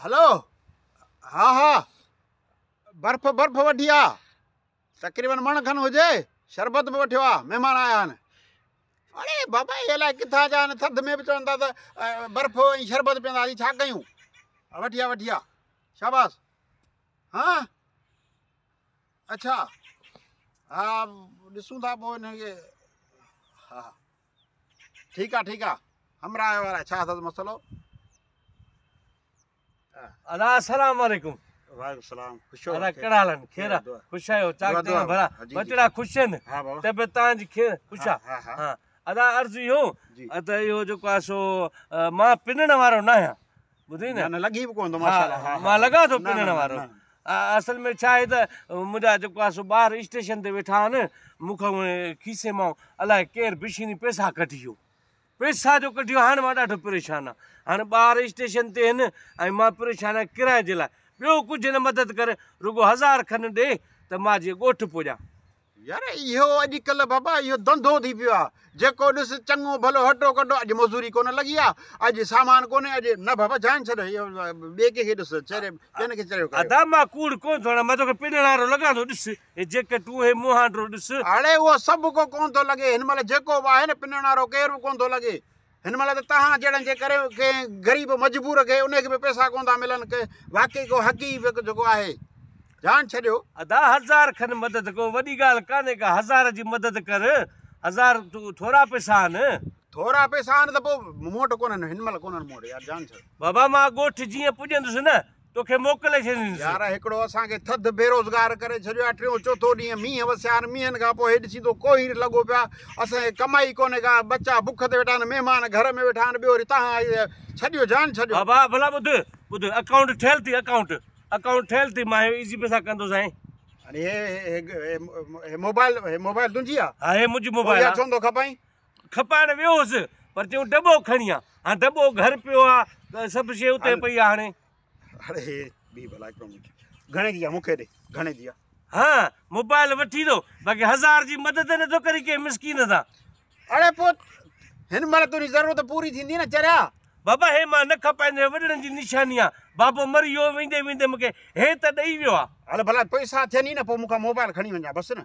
هلو ها ها برف برف وڍي آ تقريبن مڻ کن هجي شربت به وٺيو آ مهمان آيا آهن اڙي بابا هي الائي ڪٿان جا آهن ٿڌ ۾ به چون ٿا ته برف ۽ شربت پيئنداسين ڇا ڪيون وٺي آ وٺي آ شاباس ها اچھا ها ڏسون ٿا پوء هن کي ها ٺيڪ آ ٺيڪ آ همراهه وارا ڇا اٿس مسئلو. ادا السلام عليڪم وعليڪم السلام خوش آهيو ادا ڪهڙا حال آهن خير آهي خوش آهيو چاڪ چاڪ ڀلا بچڙا خوش آهن ها بابا طبيعت تان جي خير خوش آ ها ها ادا عرض اهو ته اهو جيڪو آهي سو مان پنڻ وارو نه آهيان ٻڌئي نه نه لڳي به ڪون ٿو ماشاء الله ها مان لڳان ٿو پنڻ وارو اصل ۾ ڇا آهي ته منهنجا جيڪو آهي سو ٻاهر اسٽيشن تي ويٺا آهن مون کان کيسي مان الاء ڪير بشيني پئسا ڪڍي ويو پئسا جو ڪڍي ويو هاڻ مان ڏاڍو پريشان آهي هاڻ ٻاهر اسٽيشن تي آهن ۽ مان پريشان آهي ڪرايي جي لاء ٻيو ڪجهه نه مدد ڪري رڳو هزار کن ڏي ته مان جي ڳوٺ پڄان يار اهو اڄ ڪلهه بابا اهو ڌنڌو ٿي پيو آهي جيڪو ڏس چڱو ڀلو هٽو ڪٽو اڄ مزوري ڪونه لڳي آهي اڄ سامان ڪونهي اڄ نه بابا جان ڇڏ اهو ٻئي ڪنهن کي ڏس چري ڪنهن کي چريو ڪريو ادا مان ڪوڙ ڪونه ٿو هڻان مان توکي پنڻ وارو لڳان ٿو ڏس هي جيڪٽ اهو هي مون هانڊرو ڏس. اڙي اهو سڀ ڪو ڪونه ٿو لڳي هن مهل جيڪو به آهي نه پنڻ وارو ڪير به ڪونه ٿو لڳي هن مهل ته توهان جهڙن جي ڪري ڪنهن غريب مجبور کي ان کي به پئسا ڪونه ٿا ملن ڪي واقعي ڪو حقي وڪ جيڪو آهي جان ڇڏيو. ادا هزار کن مدد ڪو وڏي ڳالهه ڪانهي ڪا هزار جي مدد ڪر هزار تون ٿورا پئسا آهن. ٿورا پئسا آهن ته پوء مون وٽ ڪونهن هن مهل ڪونهن مون وٽ يار جان ڇڏ. بابا مان ڳوٺ جيئن پڄندس نه توکي موڪلي ڇڏيندس. يار هڪڙو اسان کي ٿڌ بيروزگار ڪري ڇڏيو آهي ٽيون چوٿون ڏينهن مينهن وسيا آهن مينهن کان پوء هيڏ سيدو ڪوهير لڳو پيو آهي اسان کي ڪمائي ئي ڪونهي ڪا ٻچا بک تي ويٺا آهن مهمان گهر ۾ ويٺا آهن ٻيو وري تهان ڇڏيو جان ڇڏيو. بابا ڀلا ٻڌ ٻڌ اڪائونٽ ٺهيل اٿئي اڪائونٽ اڪائونٽ ٺهيل اٿئي مان هي ايزي پيسا ڪندو سائين. هي هي هي هي موبائل هي موبائل تنهنجي آ. ها هي منهنجي موبائل آ. ڇو نٿو کپائين. کپائڻ ويو هوس پر چيون دٻو کڻي آ. هاڻ دٻو گهر پيو آ ته سڀ شي اتي پئي آ هاڻي. اڙي ٻي بلا ڪيون مون کي. گهڻي جي آ مون کي ڏي گهڻي جي آ. ها موبائل وٺي ٿو باقي هزار جي مدد نه ٿو ڪري ڪنهن مسڪين سان. اڙي پوء هن مهل تنهنجي ضرورت پوري ٿيندي نه چريا. بابا هي مان نه کپائيندين وڏڙن جي نشاني آ. بابو مري ويو ويندي ويندي مون کي هي ته ڏئي ويو آ. هل ڀلا پئسا ٿين ئي نه پوء مون کان موبائل کڻي وڃجان بس نه.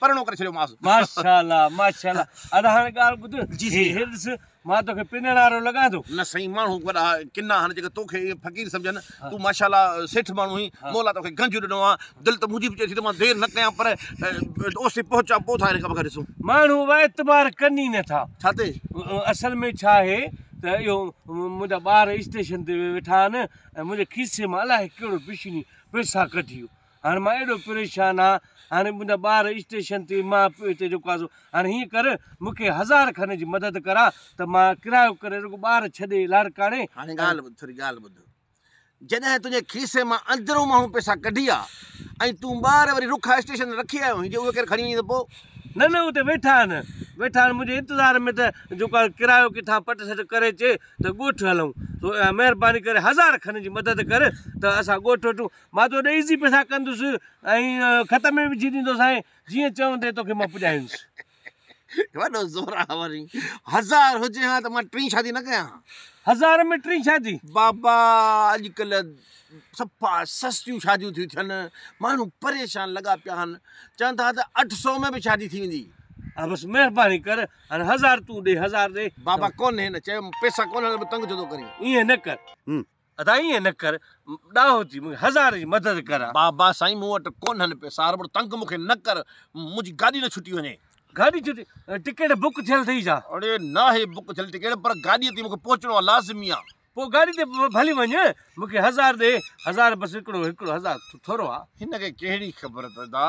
پرڻو ڪري ڇڏيو ماس. ماشاء الله ماشاء الله ادا هاڻي ڳالهه ٻڌ جي سائين. هي ڏس مان توکي پنڻ وارو لڳان ٿو. نه سائين ماڻهو وڏا ڪنا آهن جيڪي توکي ائين فقير سمجهن تون ماشاء الله سيٺ ماڻهو آهين ها. مولا توکي گنج ڏنو آ دل ته منهنجي به چئي ٿي ته مان دير نه ڪيان پر اوستي پهچان پوء ٿا هن کان بغير ڏسون. ماڻهو اعتبار ڪن ئي نه ٿا. ڇا تي؟ اصل ۾ ڇا آهي ته اهو منهنجا ٻار اسٽيشن تي ويٺا آهن ۽ منهنجي کيسي مان الائي ڪهڙو بشني پئسا ڪڍي ويو. هاڻ مان اهڙو پريشان آ هاڻي منهنجا ٻار اسٽيشن تي مان پيو هتي جيڪو آ سو هاڻي هيئن ڪر مون کي هزار کن جي مدد ڪر آ ته مان ڪرايو ڪري رڳو ٻار ڇڏي لاڙڪاڻي هاڻي ڳالهه ٻڌ ٿوري ڳالهه ٻڌ جڏهن تنهنجي کيسي مان اندرون ماڻهو پئسا ڪڍي آ ۽ تون ٻار وري رخ آ اسٽيشن تي رکي آيو هين جي اهي ڪير کڻي وڃي ته پو. نه نه اتي ويٺا آهن ويٺا آهن منهنجي انتظار ۾ ته جيڪو آ ڪرايو ڪٿان پٽ سٽ ڪري اچي ته ڳوٺ هلون سو مهرباني ڪري هزار کن جي مدد ڪر ته اسان ڳوٺ وٽون مان تو ڏيئي سين پئسا ڪندس ۽ خط ۾ وجهي ڏيندوسانء جيئن چوندين توکي مان پڄايونس. وڏو زورا وري هزار هجي هان ته مان ٽين شادي نه ڪيان هان. هزار ۾ ٽين شادي؟ بابا اڄ ڪلهه صفا سستيون شاديون ٿيون ٿين ماڻهو پريشان لڳا پيا هان چون ٿا ته اٺ سئو ۾ به شادي ٿي ويندي. ها بس مهرباني ڪر هان هزار تون ڏي هزار ڏي. بابا ڪونهي نه چيم پئسا ڪونهن ته به تنگ ڇو ٿو ڪرين. ائين نه ڪر. ادا ائين نه ڪر ڏاهو ٿي مونکي هزار جي مدد ڪر ها. بابا سائين مون وٽ ڪونهن پيسا هاربر تنگ مونکي نه ڪر منهنجي گاڏي نه ڇٽي وڃي. گاڏي ڇٽي ٽڪيٽ بڪ ٿيل ٿئي ڇا. اڙي ناهي بڪ ٿيل ٽڪيٽ پر گاڏي تي مونکي پهچڻو آهي لازمي آهي. پوء گاڏي تي ڀلي وڃ مونکي هزار ڏي هزار بس هڪڙو هڪڙو هزار ٿورو آهي. هن کي ڪهڙي خبر ادا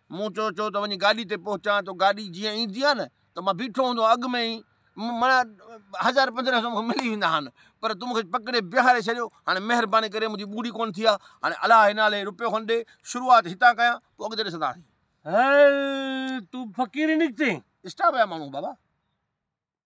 مون چيو چيو ته وڃي گاڏي تي پهچان ته گاڏي جيئن ايندي آهي نه ته مان بيٺو هوندو آهيان اڳ ۾ ئي معنيٰ هزار پنجرهه سو مون کي ملي ويندا آهن پر تون مون کي پڪڙي بيهاري ڇڏيو هاڻي مهرباني ڪري منهنجي ٻوڙي ڪونه ٿي آهي هاڻي الله جي نالي روپيو کن ڏي شروعات هتان ڪيان پوء اڳتي ڏسنداسين. هل تون فقيري نڪتين. اسٽاف جا ماڻهو بابا.